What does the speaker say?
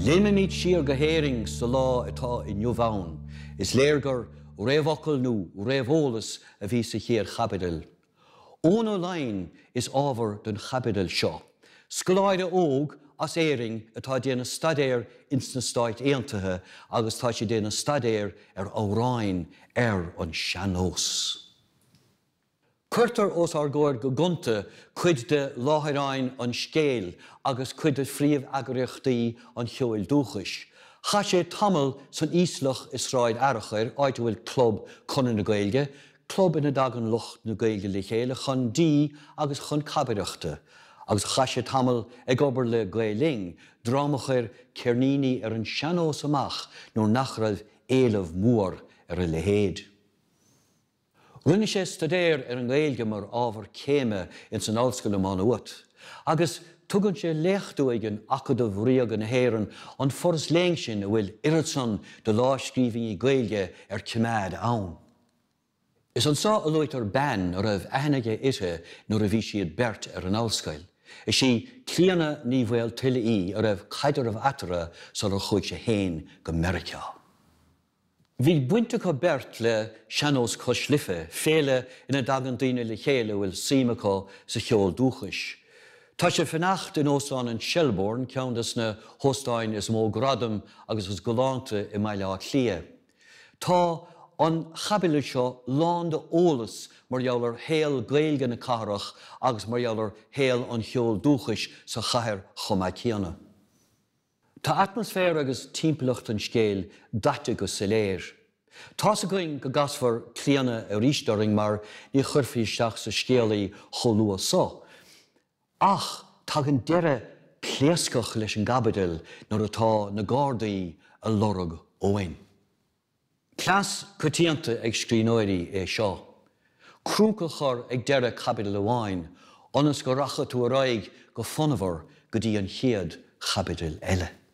Léimimid siar go hÉirinn sa lá atá inniu ann. Is léir gur réamhfhocal nó réamheolas a bhí sa chéad chaibidil. Eoghan Ó Laighin is ábhar don chaibidil seo. Scoláire óg as Éirinn atá ag déanamh staidéir ins na Stáit Aontaithe agus tá sé ag déanamh staidéir ar amhráin ar an seannós. Cuirtear os ár gcomhair go gonta cuid de láithreáin an scéil agus cuid de phríomheagraíochtaí an cheoil dúchais. Chaith sé tamall san íoslach i Sráid Fhearchair, áit a bhfuil club Chonradh na Gaeilge, club ina dtagann lucht na Gaeilge le chéile chun dí agus chun cabaireachta, agus chaith sé tamall ag obair le Gael Linn, dream a chuir ceirníní ar an seannós amach nuair nach raibh éileamh mór ar a leithéid. Rinne sé staidéar ar an nGaeilge mar ábhar céime ins an Ollscoil i Má Nuat agus tugann sé léacht uaidh in Acadamh Ríoga na hÉireann, an foras léinn sin a bhfuil oiread san de láimhscríbhinní Gaeilge ar coimeád ann. Is anso a luaitear bean a raibh aithne aige uirthi nuair a bhí siad beirt ar an ollscoil. Is í Clíodhna Ní Mhaoltuile í, a raibh caidreamh eatarthu sular chuaigh sé féin go Meiriceá. Bhí baint acu beirt le Sean-Nós Cois Life, féile ina dtagann daoine le chéile a bhfuil suim acu sa cheol dúchais. Tá sé fanacht in Óstán an Shelbourne, ceann des na hóstáin is mó gradam agus is galánta i mBaile Átha Cliath. Tá an chaibidil seo lán de eolas mar gheall ar shaol Gaeilge na cathrach agus mar gheall ar shaol an cheoil dúchais sa chathair chomh maith céanna. Tá atmaisféar agus timpeallacht an scéil daite go soiléir. Tá's againn go gcasfar Clíona arís orainn mar ní chuirfí isteach sa scéal í chomh luath seo. Ach tagann deireadh pléascach leis an gcaibidil nuair atá na Gardaí a lorg Eoghain. Cleas coitianta ag scríbhneoirí é seo, crúca a chur ag deireadh caibidil amháin ionas go rachaidh tú ar aghaidh go fonnmhar go dtí an chéad chaibidil eile.